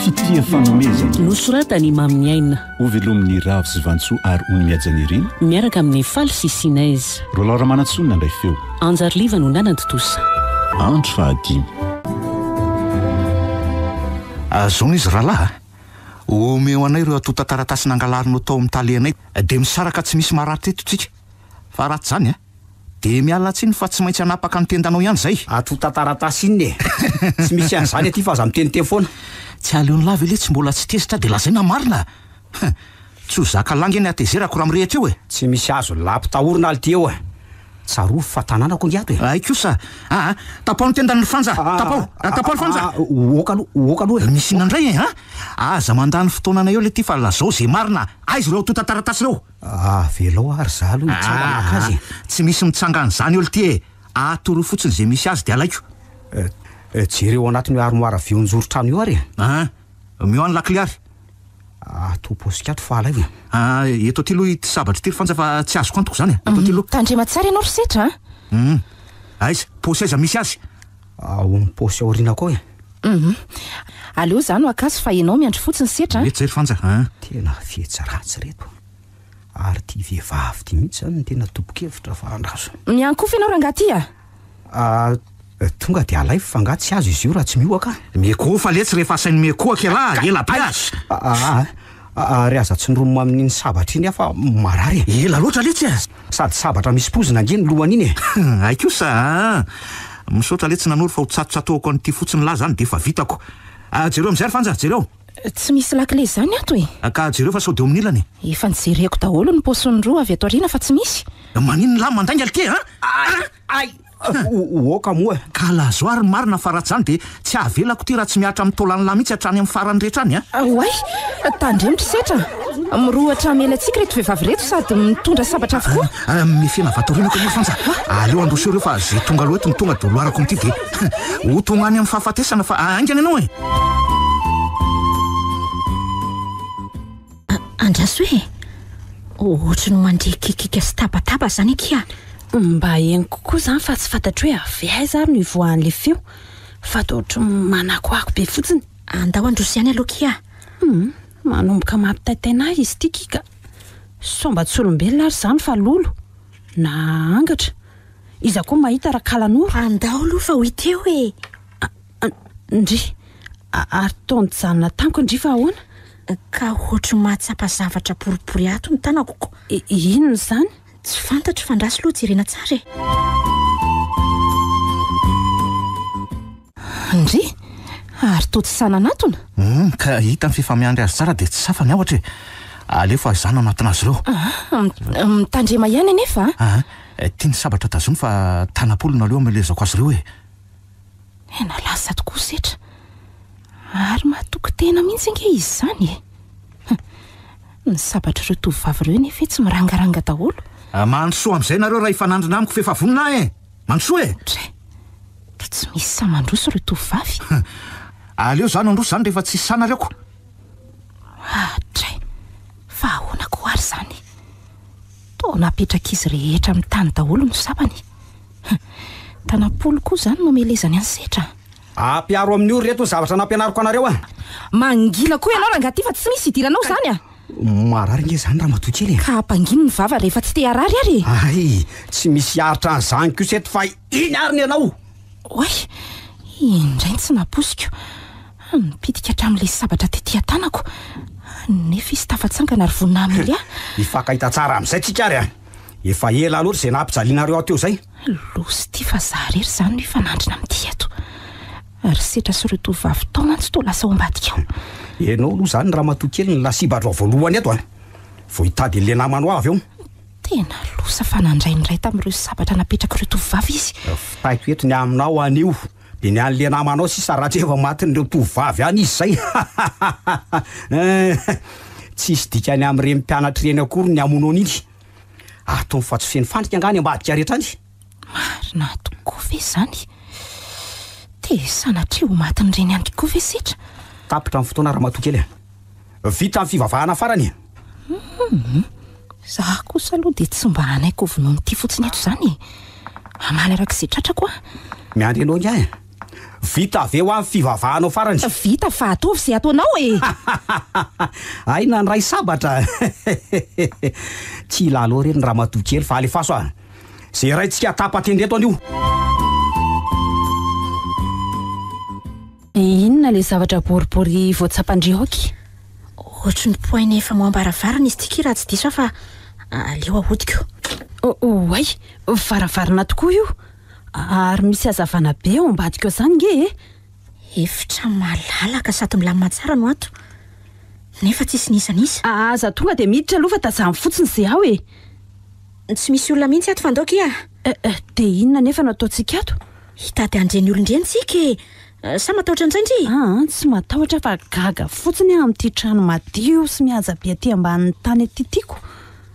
Fitia fanomezana. Nosoratan'i Imam Niaina. Hovelomin'ny Ravo sy Vantsoa ary Ony Mihaja Nirina. Miaraka amin'ny Faly sy Sinez. Rolao Ramanantsoa no nandray feo. Anjary Liva no nanantontosa. Andro fahadimy. Azonao izy rahalahy a! Omeo anay ireo antontan-taratasy nangalarinao tao amin'ny talenay dia misaraka tsy misy maratra eto tsika fa raha tsy izany a! Dia miala tsiny fa tsy maintsy hanapaka ny tendanao ihany izay. Ato ho tataratasy inona e! Tsy misy an'izany aty fa aza miteniteny foana. Tsy aleon'i la ve le tsy mbola tsy tezitra dia lazaina marina a! Huh! Tsy ho zaka la nge ny hatezerako raha mirehitra eo e! Tsy misy azo la mpitahorina aty eo a! Tsarovy fa tanàna ko nge ato e! Hay kosa! Aa! Tapaho ny tendany ry Fanja! Tapaho! Tapaho ry Fanja! Oka aloha! Oka aloha e! Misy inona indray e! Aa! Aza mandany fotoananay eo le ty fa lazao ze marina a! Aiza ireo ato tataratasy ireo? Avelao ary za aloha hitsara maka azy e! Aa! Tsy misy mitsanga an'izany ol ty e! Aa toro fotsiny ze misy azy de alaiko. Aa! Jereo anatin'io armoire avy eo anjoron-trano io ary e! Aa! Omeo any lakile ary. Aa! Toa paosy kiato fa alaivo e! Aa! Eto aty aloha ity sabatra ity ry Fanja fa tsy azoko antoko zany e! Eto aty aloha. Tandrema tsara ianao ry setra a! Hum! Aiza? Paosy aiza misy azy? Ao amin'ny paosy aoriana koa e. Hum. Aleo za no akasy fa ianao miandry fotsiny setra an. Ireto zay ry Fanja an. Tena fihetsy ratsy ireto. Ary ity vehivavy ity mihitsy izany no tena tobokevitra fa andraso. Miankofa ianao rangahy ity a. Ah, tonga dia alaivo fa angaha tsy azo izy io raha tsy miohaka an. Miekohofa letsy rehefa asainy miekohaka ialahy, ela be aza. Ah, Ary aza tsindromina amin'iny sabatra iny aho fa marary e! Ela loatra letsy e! Sady sabatra misy pozina ange ny lohany iny e! Hay kosa aa! Misaotra letsy nanoro fa ho tsatotsatohako an'ity fotsiny lahy zany d'efa vitako! Jereo amizay ry Fanja, jereo! Tsy misy lakile zany ato e! Ka jereo fa sao de eo amin'ny ilany e! Efa nijereko daholo ny paosiny roa avy ato aoriana fa tsy misy! Maninona lahy mandainga lky a! Ay! Oka moa ka lazo aho ry marina fa raha tsy izany dia tsy avelako ity raha tsy mihatra amin'ny taolan'lah mihitsy hatrany amin'ny farany rehetra any an! Oay! Tandremo ry setra an! Mirohotra hamela antsika ireto vehivavy ireto sady mitondra sabatra avokoa! Mihafena vatorinako anie Frantsa! Aleo handroso ireo fa izay tonga aloha eto no tonga dia holoarako amin'ity dia ho tonga any amin'ny fahafatesana fa haingana ianao e! Andraso e! Ohatry ny mandre kikika sy tabataba izany akia. Mba henoko koa izany fa tsy fantatro hoe avy aiza ary no hivoahan'ilay feo fa dia ohatry ny manakoako be fotsiny. Andao handroso ihany aloha akia. Humm, manomboka mampitaitaina ahy izy ity kika. Sao mba tsy olombelona ary izany fa lolo? Na angatra? Iza koa mahita raha kalanoro? Andao aloha fa ho hita eo e! Ndry! Ary toa nijanona tamiko ndry fa ahoana? Ka ohatry ny mahatsapa zavatra boribory ato ny tanako ko. Inona izany? Tsy fantatro fa ndraso loha jerena tsara e. Ndry! Ary toa tsy sahy nanatona? Humm, ka hita ny fifamihany azy tsara dia tsy safa ny aotra e. Aleo fahazana ao anatin'azy ireo. Aah, mitandrema ihany anefa a. Aah, tiany sabatra tazomina fa tanam-polony aloha hamelezako azy ireo e. Tena lasa tokoa setra. Ary mahatoky tena mihitsy ange izy izany e. Ny sabatr'ireo tovovavy ireo nefa e tsy mirangaranga daholo. Ah, mandrosoa amin'izay nareo raha hifanandrina amiko f'efa vonona aho e. Mandrosoa e. Dra, ka tsy misy sahy mandroso ireo tovovavy. Aleo za no handroso izany rehefa tsisy sahy nareo ko. Ah, dra, fa ahoana ko ary izany. Toa napetrak'izy rehetra amin'ny tany daholo ny sabany. Tanam-polo koa izany no amelezany an'i Setra a! Ampiaro amin'io ry reto ny zavatra nampianariko anareo a! Mangina koa ianao rangahy ty fa tsy misy idiranao izany a! Marary ange izany ramatoa kely e! Ka hampangino ny vava rehefa tsy te harary ary e! Hay! Tsy misy hiaritra an'izany kosa eto fa iny ary ny anao! Oay! Iny indray ny tsy nampoiziko! Nipitika hatramin'ilay sabatra tety an-tanako! Nefa izy tafatsangana ary vonona hamely ahy! Hifankahita tsara amin'izay tsika ary a! Efa ela loatra izay nampijalianareo aho teo izay. Losy ity fa za rery izany no hifanandrina amin'ity eto. Ry Setra sy ireo tovovavy tao mantsy toa lasa ao ambadika ao. Ianao aloha izany ramatoa kely no lasibadrao voalohany eto a! Vao hitady an'ilay namanao aho avy eo. Tena losa fa nandray ny iray tamin'ireo sabatra napetrak'ireo tovovavy izy. Vitaiko eto ny aminao anio. Dia ny an'le namanao sisa raha tsy efa matin'ireo tovovavy any izy zay hein! Tsisy dikany amin'ireny mpianatra ireny akory ny amonoana iny. Atony fa tsy feno fandrika angaha any ambadika rehetra any? Marina tokoa ve izany? Dia sanatria ho matin'ireny ihany koa ve setra? Tapitra ny fotoana ramatoa kely a! vita ny fivavahana farany e! Humm! Za kosa aloha dia tsy mba hanaiky ho vonoin'ity fotsiny eto izany e! Hamaly araka izay tratrako aho! Miandry anao ingahy e! Vita ve hoa ny fivavahanao farany? Vita fa ataovy izay ataonao e! Hay nandray sabatra! Tsy hilalao re ny ramatoa kely fa alefaso a! Izay iraintsika tapa-tendrento anio! Dia inona ilay zavatra boribory vao tsapan-dry aoky? Ohatry ny poaina efa moambo aravarana izy ity ki raha tsy diso aho fa aleo ahodiko. Oh oh ay! Varavarana tokoa io! Ary misy hazavana be ao ambadika ao zany nge e! Efitra malalaka sady milamina tsara no ato. Nefa tsisy n'iza n'iza. Aza tonga dia miditra aloha fa tazamo fotsiny ze ao e! Tsy misy olona mihitsy ato fandao ki a! Eh eh, dia inona anefa no ataontsika ato? Hitady an'ireny olona ireny tsika e! Sa matahotra an'izay ndry? Aa, tsy matahotra fa gaga fotsiny aho amin'ity trano madio sy mihaja be aty ambanin'ny tany aty tiako.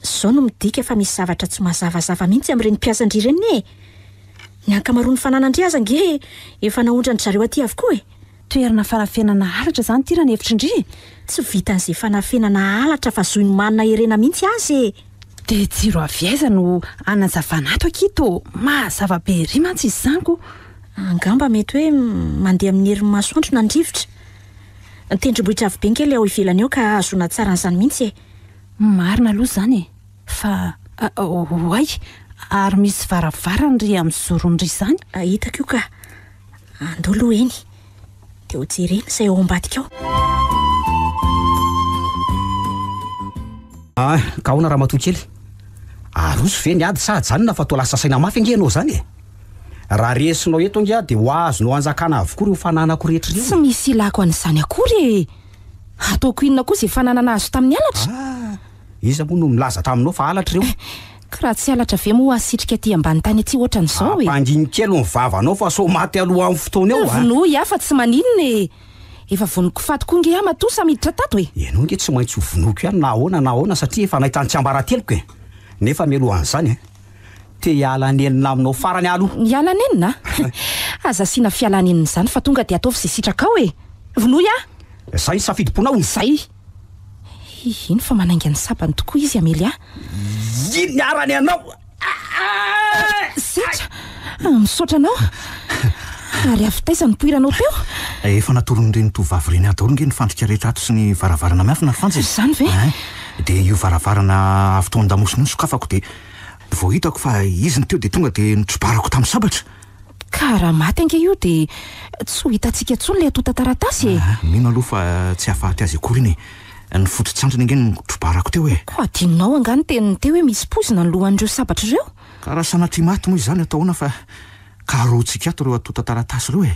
Izao no midika fa misy zavatra tsy mazavazava mihitsy amin'ireny mpiasa ndry ireny e! Ny ankamaroan'ny fananandry aza ange efa naondran-dry zareo aty avokoa e! Toerana fanafenana halatra zany ity raha ny hevitry ndry e! Tsy vitan'izay fanafenana halatra fa zohin'i Manina Herena mihitsy aza e! Dia jiro avy aiza no hanazavana ato akia to? Mazava be ery mantsy izy zany ko! Angamba mety hoe mandeha amin'ny herin'ny masoandro na ny rivotra. Ny tendrombohitra avy be ngela eo ivelany eo ka hahazoana tsara an'izany mihitsy e! Marina aloha izany e! Fa oay! Ary misy varavarany ry amin'ny zorony ry izany? Hitako io ka! Andao aloha eny, dia ho jerena izay ao ambadika ao. Ah, ka ahoana ramatoa kely? Aroso ve ny ady sa ajanona fa toa lasa saina mafy ange ianao izany e? Raha resinao eto ange aho dia ho azonao hanjakana avokoa ireo fananako rehetra ireo. Tsy misy ilako an'izany akory e! Hataoko inona koa izay fananana azo tamin'ny halatra? Ah, iza moa no nilaza taminao fa halatra ireo? Ka raha tsy halatra ve moa hasitrika aty ambany tany aty ohatran'izao e? Ampangino kely ny vavanao fa sao maty aloha amin'ny fotoana eo a! Vonoy ahy fa tsy maninona e! Efa vonoiko faty koa nge aho matoa sa miditra tato e! Ianao nge tsy maintsy ho vonoiko ihany na ahoana na ahoana satria efa nahita ny tsiambarateloko e! Nefa mialoha an'izany a! Te hiala nenina aminao farany aho aloha! Hiala nenina? Aza asiana fialanenina izany fa tonga dia ataovy izay sitrakao e! Vonoy ahy! Izay ny safidim-ponao! Izay! Hihino fa manainga ny sabany tokoa izy Amelia. Iny niarany anao. Zetra, ah, misaotra anao. Ary avy taiza ny poiranao teo? Eh, efa natoron'ireny tovovavy ireny ahy daholo nge ny fandrika rehetra ato sy ny varavarana miafina ry Frantsa e. Izany ve? Eh, dia io varavarana avy tao an-damosina io no sokafako dia vao hitako fa izy no teo dia tonga dia nitrobarako tamin'ny sabatra. Ka raha maty ange io dia tsy ho hitantsika intsony ilay antontan-taratasy e! Ah, mino aloha fa tsy hahafaty azy akory iny e. Ny foto-tsantony ange no trobarako teo e! Koa adinonao angaha ny tenin'ny teo hoe misy poizina ny lohan'ireo sabatra ireo? Ka raha sanatria maty moa izany atao ahoana fa karohon-tsikiato ireo antontan-taratasy ireo e!